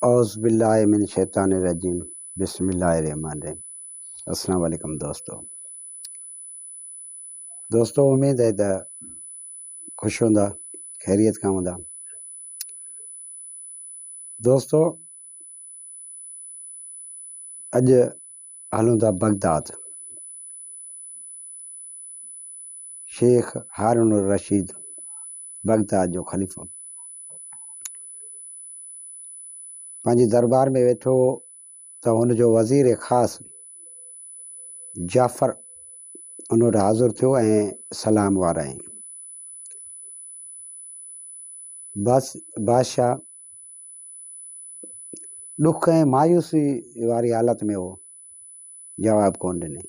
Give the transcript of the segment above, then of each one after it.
اعوذباللہ من الشيطان الرجيم بسم الله الرحمن الرحيم السلام عليڪم دوستو دوستو اميد آهي ته خوش هوندا خيريت کان هوندا دوستو اڄ هلون ٿا بغداد. شيخ هارون الرشيد بغداد جو خليفو پنهنجي دربار ۾ ويٺو هو ته هن جو وزير خاص جعفر ان وٽ حاضر ٿيو ۽ سلام وارائين بس بادشاهه ڏک ۽ مايوسي واري حالت ۾ هو جواب ڪونه ڏني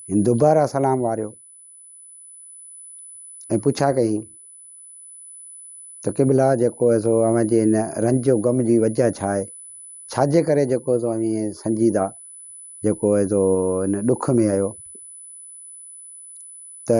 هن دوباره سلام واريو ۽ پڇا ڪيائين ته قبلا جيڪو هي سو اوهان جي هن رنج جو غم جي وجه ڇا آهي ڇا جي ڪري جيڪو سو اوهين سنجيده جيڪو هي سو هن ڏک ۾ آهيو ته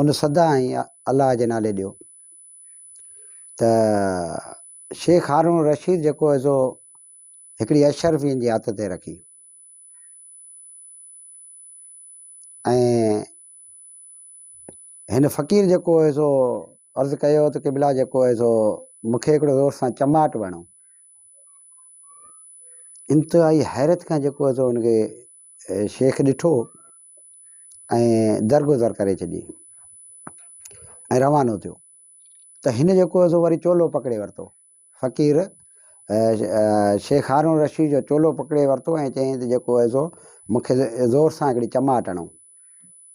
ان صدا ۽ الله جي نالي ڏيو ته شيخ هارون رشيد جيڪو هي سو هڪڙي اشرفين جي هٿ تي رکي ۽ هن فقير جيڪو هي سو عرض ڪيو ته قبلا جيڪو هي سو مونکي هڪڙو زور سان چماٽ وڻو انتهائي حيرت کان جيڪو هي سو هن کي شيخ ڏٺو ۽ درگذر ڪري ڇڏي ۽ روانو ٿيو ته هن جيڪو هو سو وري چولو پڪڙي ورتو فقير شيخ هارون الرشيد جو چولو پڪڙي ورتو ۽ چيائين ته جيڪو هو سو مونکي زور سان هڪڙي چماٽ هڻو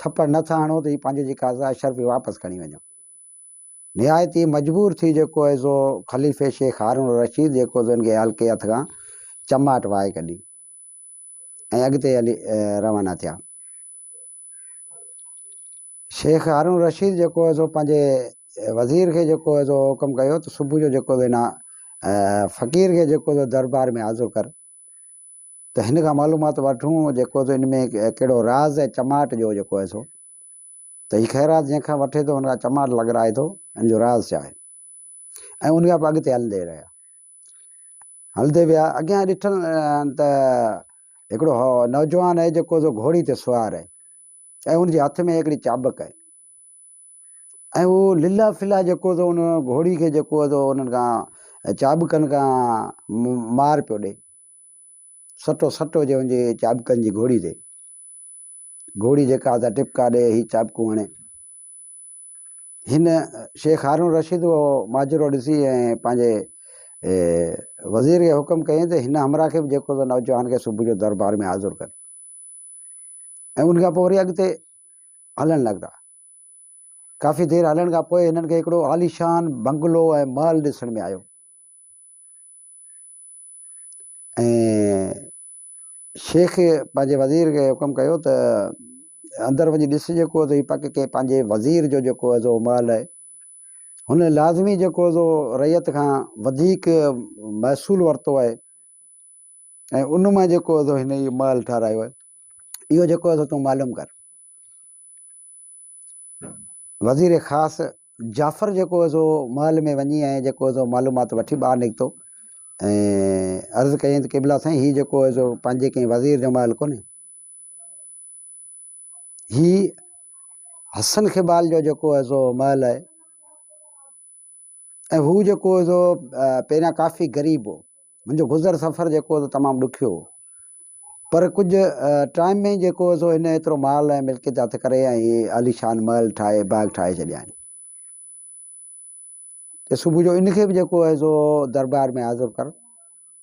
ٿڦڙ نه ٿا هڻو ته هي پنهنجي جيڪا عزا شرف هي واپس کڻي وڃو. نهايت ئي مجبور ٿي جيڪو هي سو خليفي شيخ هارون الرشيد جيڪو سو هن کي هلڪي هٿ کان چماٽ وهائي ڪڍي ۽ اڳتي هلي روانا ٿيا. شيخ هارون الرشيد جيڪو هي سو پنهنجي وزير کي جيڪو هي سو حڪم ڪيو ته صبح جو جيڪو هي سو هن فقير کي جيڪو هي سو دربار ۾ حاضر ڪر. ته هن کان معلومات وٺون جيڪو ته ان ۾ ڪهڙو راز آهي چماٽ جو جيڪو آهي سو ته هي خيرات جنهن کان وٺي ٿو هن کان چماٽ لڳرائي ٿو ان جو راز ڇا آهي ۽ ان کان اڳتي هلندي رهيا هلندي ويا اڳيان ڏٺل ته هڪڙو نوجوان آهي جيڪو گهوڙي تي سوار آهي ۽ ان جي هٿ ۾ هڪڙي چابڪ آهي ۽ اهو لله ڦلا جيڪو ٿو ان گهوڙي کي جيڪو ٿو انهن کان چاٻڪن کان مار پيو ڏئي سٽو سٽو جي وڃي چاٻڪن جي گهوڙي تي گهوڙي جيڪا ته ٽپڪا ڏئي هي چاٻڪو هڻي هن شيخ هارون رشيد اهو ماجرو ڏسي ۽ پنهنجي وزير کي حڪم ڪيائين ته هن همراهه کي به جيڪو ته نوجوان کي صبح جو دربار ۾ حاضر ڪر ۽ ان کان پوء وري اڳتي هلڻ لڳا. ڪافي دير هلڻ کان پوء هنن کي هڪڙو عاليشان بنگلو ۽ محل ڏسڻ ۾ آيو ۽ شيخ پنهنجي وزير کي حڪم ڪيو ته اندر وڃي ڏس جيڪو ته هي پڪ ڪنهن پنهنجي وزير جو جيڪو هي سو محل آهي هن لازمي جيڪو سو رعيت کان وڌيڪ محصول ورتو آهي ۽ ان مان جيڪو اٿو هن هي محل ٺاهرايو آهي اهو جيڪو اٿو تون معلوم ڪر وزير خاص جعفر جيڪو اٿو محل ۾ وڃي ۽ جيڪو اٿو معلومات وٺي ٻاهر نڪتو ۽ عرض ڪيائين ته قبلا سائين هي جيڪو اثو پنهنجي ڪنهن وزير جو محل ڪونهي هي حسن خبال جو جيڪو اثو محل آهي ۽ هو جيڪو هو سو پهريان ڪافي غريب هو منهنجو گذر سفر جيڪو هو سو تمام ڏکيو هو پر ڪجهه ٽائيم ۾ جيڪو هو سو هن ايترو مال ۽ ملڪيت هٿ ڪري ۽ هي عاليشان محل ٺاهي باغ ٺاهي ڇڏيا آهن ته صبح جو ان کي به جيڪو هو سو دربار ۾ حاضر ڪر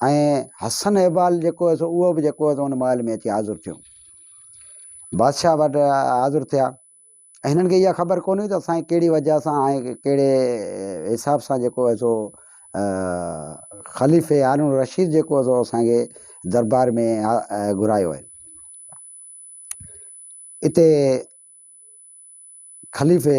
۽ حسن احبال جيڪو هيس اهو به جيڪو هيس ان محل ۾ اچي حاضر ٿيو بادشاهه وٽ حاضر ٿيا ۽ هنن کي اها خبر ڪونه هئي ته اسان کي وجه سان ۽ ڪهڙي حساب سان جيڪو هيس سو خليفي هارون رشيد جيڪو هيس سو اسانکي دربار ۾ گهرايو آهي اتي خليفي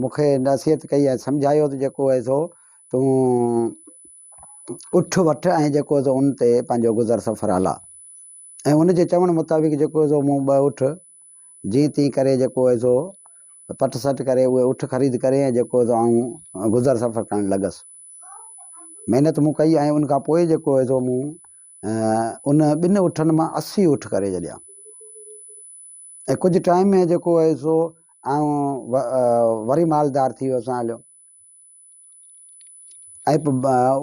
مون کي نصيحت ڪئي ۽ سمجهايو ته جيڪو هي سو تون اٺ وٺ ۽ جيڪو سو ان تي پنهنجو گذر سفر هلا ۽ ان جي چوڻ مطابق جيڪو سو مون ٻه اٺ جيئن تيئن ڪري جيڪو هي سو پٽ سٽ ڪري اهي اٺ خريد ڪري ۽ جيڪو سو آئون گذر سفر ڪرڻ لڳس محنت مون ڪئي ۽ ان کان پوء جيڪو هي سو مون ان ٻن اٺن مان اسي اٺ ڪري جڏيا ۽ ڪجهه ٽائيم ۾ جيڪو هيس سو آئون وري مالدار ٿي ويس هان هليو ۽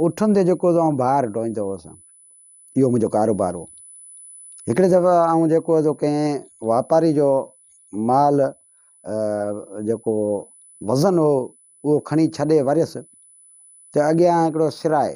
اٺن تي جيڪو آئون بار ڍوئيندو هوس اهو منهنجو ڪاروبار هو هڪڙي دفعي آئون جيڪو هيس سو ڪنهن واپاري جو مال جيڪو وزن هو اهو کڻي ڇڏي وريس ته اڳيان هڪڙو سر آهي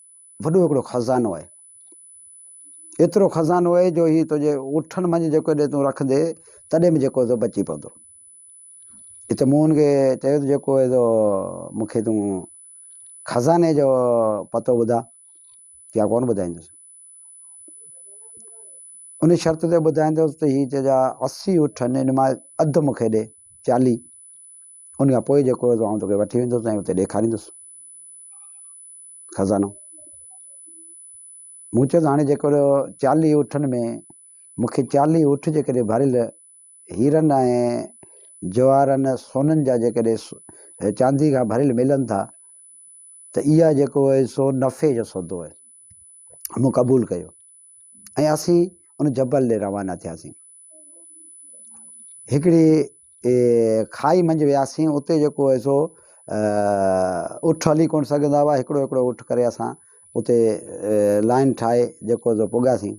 وڏو هڪڙو خزانو آهي. ايترو خزانو آهي جو هي تنهنجي اٺن منجهه جيڪو ڏي تون رکندي تڏهن به جيڪو سو بچي پوندو. هت مون هن کي چيو ته جيڪو هي سو مون کي تون خزاني جو پتو ٻڌاء يا ڪونه ٻڌائيندس. ان شرط تي ٻڌائيندس ته هي تنهنجا اسي اٺ آهن ان مان اڌ مون کي ڏي چاليهه ان کان پوء جيڪو هي سو آئون توکي وٺي ويندس ۽ اتي ڏيکاريندس. خزانو مون چيس هاڻي جيڪر چاليهه اٺن ۾ مون کي چاليهه اٺ جيڪڏهن ڀريل هيرن ۽ جواهرن سونن جا جيڪڏهن چاندي کان ڀريل ملن ٿا ته اها جيڪو آهي سو نفعي جو سودو آهي مون قبول ڪيو ۽ اسين ان جبل ڏي روانا ٿياسين. هڪڙي کاهي منجهه وياسين، اتي جيڪو هو سو اٺ هلي ڪونه سگهندا هئا، هڪڙو هڪڙو اٺ ڪري اسان اتي لائين ٺاهي جيڪو هو سو پڳاسين.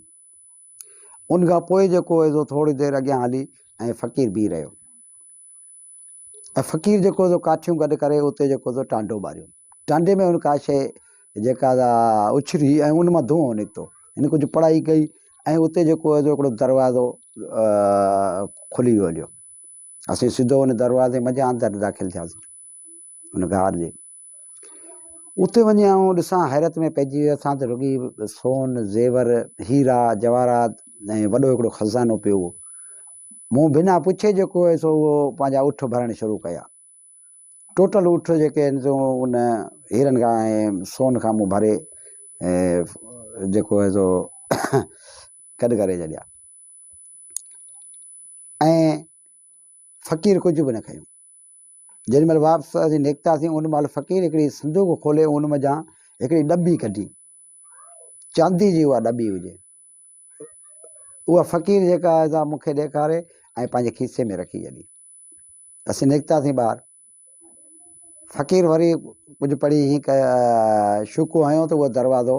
ان کان پوء جيڪو هو سو ٿوري دير اڳيان هلي ۽ فقير بيهي رهيو. ۽ فقير جيڪو سو ڪاٺيون گڏ ڪري اتي جيڪو سو ٽانڊو ٻاريو ٽانڊي ۾ ان ڪا شيء جيڪا سا اڇري ۽ ان مان دونهون نڪتو ان ڪجهه پڙهائي ڪئي ۽ اتي جيڪو هو هڪڙو دروازو کلي ويو هليو اسين سڌو ان دروازي منجهان اندر داخل ٿياسين ان غار جي اتي وڃي آئون ڏسان حيرت ۾ پئجي ويو اٿان ته رڳي سون، زيور، هيرا، جواهرات ۽ وڏو هڪڙو خزانو پيو هو. مون بنا پڇي جيڪو هيس سو اهو پنهنجا اٺ ڀرڻ شروع ڪيا. ٽوٽل اٺ جيڪي آهن سو ان هيرن کان ۽ سون کان مون ڀري جيڪو هيس سو گڏ ڪري ڇڏيا. ۽ فقير ڪجهه به نه کيو. جيڏي مھل واپس اسين نڪتاسين ان مھل فقير ھڪڙي صندوق کولي ان منجھان ھڪڙي ڏٻي ڪڍي چاندي جي اها ڏٻي هجي اها فقير جيڪا آهي سا مونکي ڏيکاري ۽ پنهنجي کيسي ۾ رکي ڇڏي اسين نڪتاسين ٻاهر فقير وري ڪجهه پڙهي هينئي شوڪو هنيو ته اهو دروازو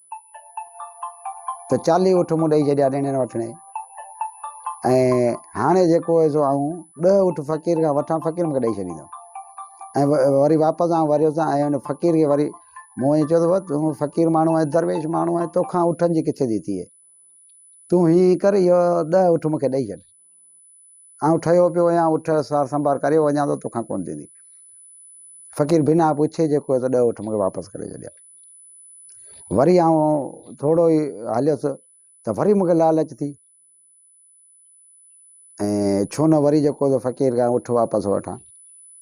ته چاليهه اٺ مون ڏئي ڇڏيا ڏيڻي نه وٺڻي ۽ هاڻي جيڪو هيس سو آئون ڏهه اٺ فقير کان وٺان فقير مونکي ڏئي ڇڏيندو ۽ وري واپس آئون وريو سان ۽ ان فقير کي وري مون ائين چيو ته تون فقير ماڻهو آهي درويش ماڻهو آهي توکان اٺن جي ڪٿي ٿي ٿئي تون هيئن ڪر اهو ڏهه اٺ مونکي ڏئي ڇڏ آئون ٺهيو پيو آهيان، اٺ، سار سنڀار ڪري وڃان ٿو، توکان ڪونه ٿيندي. فقير بنهه پڇي جيڪو هيس ڏهه اٺ مون کي واپس ڪري ڇڏيا. وري آئون ٿورو ئي هليس ته وري مون کي لالچ ٿي ۽ ڇو نه وري جيڪو هيس فقير کان اٺ واپس وٺان.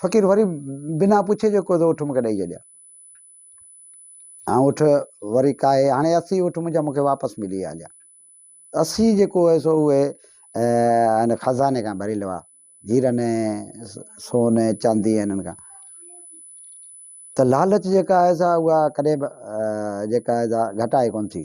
فقير وري بنا پڇي جيڪو ٿو اٺ مونکي ڏئي ڇڏيا اٺ وري کائي هاڻي اسي اٺ منهنجا مونکي واپس ملي ويا جا اسي جيڪو هو سو اهي ان خزاني کان ڀريل هئا هيرن سون چاندي انهن کان ته لالچ جيڪا آهي سا اها ڪڏهن به جيڪا آهي سا گهٽائي ڪون ٿي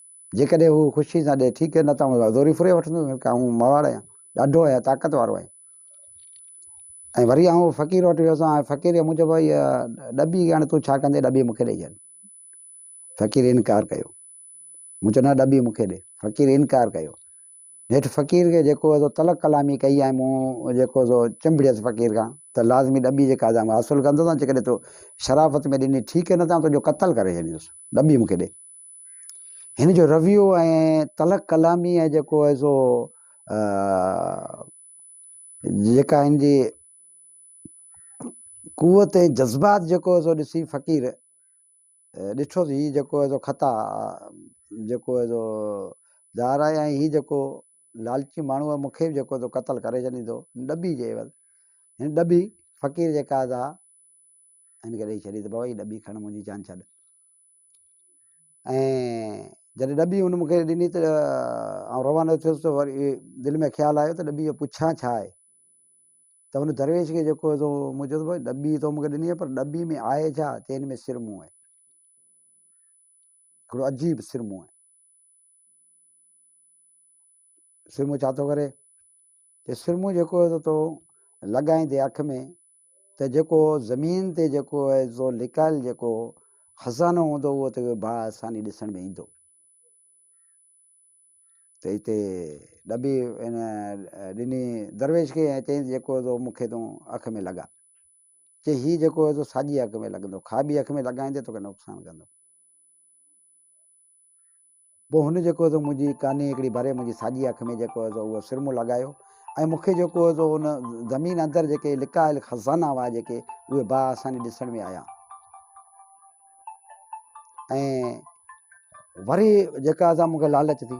جيڪڏهن هو خوشيء سان ڏئي، ٺيڪ، نه ته آئون زوريء ڦري وٺندس، ڇو ڪري آئون مواڙ آهيان، ڏاڍو آهيان، طاقت وارو آهيان. ۽ وري آئون فقير وٽ ويس هان، فقيريء مون چيو، هيء ڏٻي هاڻي تون ڇا ڪندين، ڏٻي مون کي ڏئي ڇڏ. فقير انڪار ڪيو. مون چيو، نه ڏٻي مون کي ڏي. فقير انڪار ڪيو. نيٺ فقير کي جيڪو سو تلخ ڪلامي ڪئي ۽ مون جيڪو سو چنبڙيس فقير کان ته لازمي ڏٻي جي قاضي آئون حاصل ڪندس هان، جيڪڏهن تو شرافت ۾ ڏني، ٺيڪ، نه ته آئون تنهنجو قتل ڪري ڇڏيندس، ڏٻي مون کي ڏي. هن جو رويو ۽ تلخ ڪلامي ۽ جيڪو آهي سو جيڪا هن جي قوت ۽ جذبات جيڪو آهي سو ڏسي فقير ڏٺو ته هي جيڪو آهي سو خطا جيڪو آهي سو دار آهي ۽ هي جيڪو لالچي ماڻهو مون کي جيڪو تو قتل ڪري ڇڏيندو ڏٻي جي عيوض هن ڏٻي فقير جيڪا سا هن کي ڏيئي ڇڏي ته بابا هي ڏٻي کڻ منهنجي جان ڇڏ ۽ جڏهن ڏٻي هن مون کي ڏني ته آئون روانو ٿيس ته وري دل ۾ خيال آيو ته ڏٻي کان پڇان ڇا آهي ته هن درويش کي جيڪو هو سو مون چيس ڀاء ڏٻي تو مون کي ڏني پر ڏٻي ۾ آهي ڇا چي هن ۾ سرمون آهي هڪڙو عجيب سرمون آهي سرمو ڇا ٿو ڪري ته سرمو جيڪو هي تو لڳائين تي اک ۾ ته جيڪو زمين تي جيڪو هي تو لڪايل جيڪو خزانو هوندو اهو ته با آساني ڏسڻ ۾ ايندو ته هتي ڏبي ان ڏني درويش کي ۽ چيائين جيڪو تو مونکي تون اک ۾ لڳا چي هي جيڪو هي تو ساڄي اک ۾ لڳندو کاٻي اک ۾ لڳائين ته توکي نقصان ڪندو پوء هن جيڪو سو منهنجي ڪاني هڪڙي ڀري منهنجي ساڄي اک ۾ جيڪو سو اهو سرمو لڳايو ۽ مون کي جيڪو سو ان زمين اندر جيڪي لڪايل خزانا هئا جيڪي اهي با آساني ڏسڻ ۾ آيا ۽ وري جيڪا سا مون کي لالچ ٿي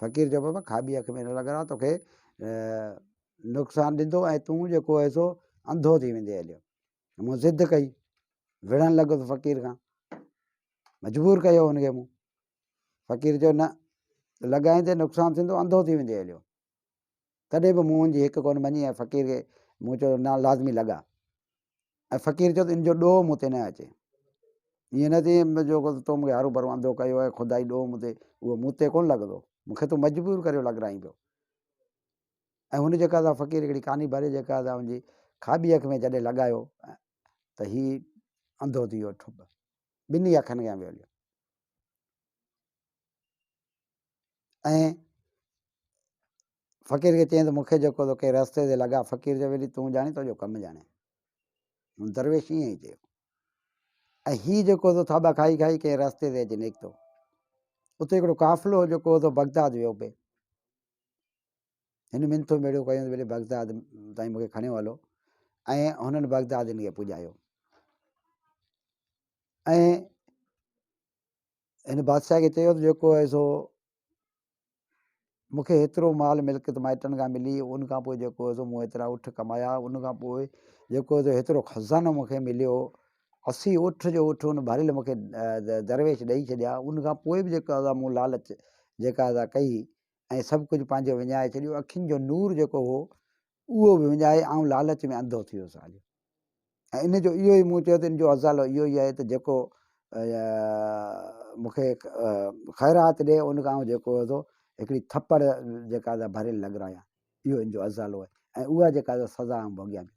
فقير چيو بابا کاٻي اک ۾ نه لڳرا توکي نقصان ڏيندو ۽ تون جيڪو آهي سو انڌو ٿي ويندي هليو مون ضد ڪئي وڙهڻ لڳس فقير کان مجبور ڪيو هنکي مون فقير چيو نه لڳائيندي نقصان ٿيندو انڌو ٿي ويندي هليو تڏهن به مون هن جي هڪ ڪونه مڃي ۽ فقير کي مون چيو ته نه لازمي لڳاء ۽ فقير چيو ته ان جو ڏوهه مون تي نه اچي ائين نه ٿئي جو تو مون کي هارو ڀرو انڌو ڪيو آهي خدائي ڏوهه مون تي اهو مون تي ڪونه لڳندو مون کي تون مجبور ڪريو لڳرائين پيو ۽ هن جيڪا سا فقير هڪڙي ڪاني ڀري جيڪا سا هنجي کاٻي اک ۾ جڏهن لڳايو ته هي انڌو ٿي ويو ٺپ ٻنهي اکن کان ويو هليو ۽ فقير کي چيائين ته مون کي جيڪو توکي رستي تي لڳا فقير چيو ويلي تون ڄاڻين تنهنجو ڪم ڄاڻين هن درويش ائين ئي چيو ۽ هي جيڪو تو ٿاٻا کائي کائي ڪنهن رستي تي اچي نڪتو اتي هڪڙو قافلو جيڪو تو بغداد ويو پئي هن منٿو ميڙو ڪيو ويلي بغداد تائين مونکي کڻيو هلو ۽ هنن بغداد هن کي پڄايو ۽ هن بادشاهه کي چيو ته جيڪو آهي سو مون کي هيترو مال ملڪيت مائٽن کان ملي ان کان پوء جيڪو آهي سو مون هيترا اٺ ڪمايا ان کان پوء جيڪو آهي سو هيترو خزانو مون کي مليو اسي اٺ جو اٺ ان ڀريل مون کي درويش ڏئي ڇڏيا ان کان پوء به جيڪا آزا مون لالچ جيڪا آزا ڪئي ۽ سڀ ڪجهه پنهنجو وڃائي ڇڏيو اکين جو نور جيڪو هو اهو به وڃائي آئون لالچ ۾ انڌو ٿي ويس آليو ۽ ان جو اهو ئي مون چيو ته ان جو ازالو اهو ئي آهي ته جيڪو مون کي خيرات ڏي ان کان آئون جيڪو ٿو هڪڙي ٿپڙ جيڪا ڀريل لڳرايان اهو ان جو ازالو آهي ۽ اها جيڪا سزا آئون ڀوڳيان پيو.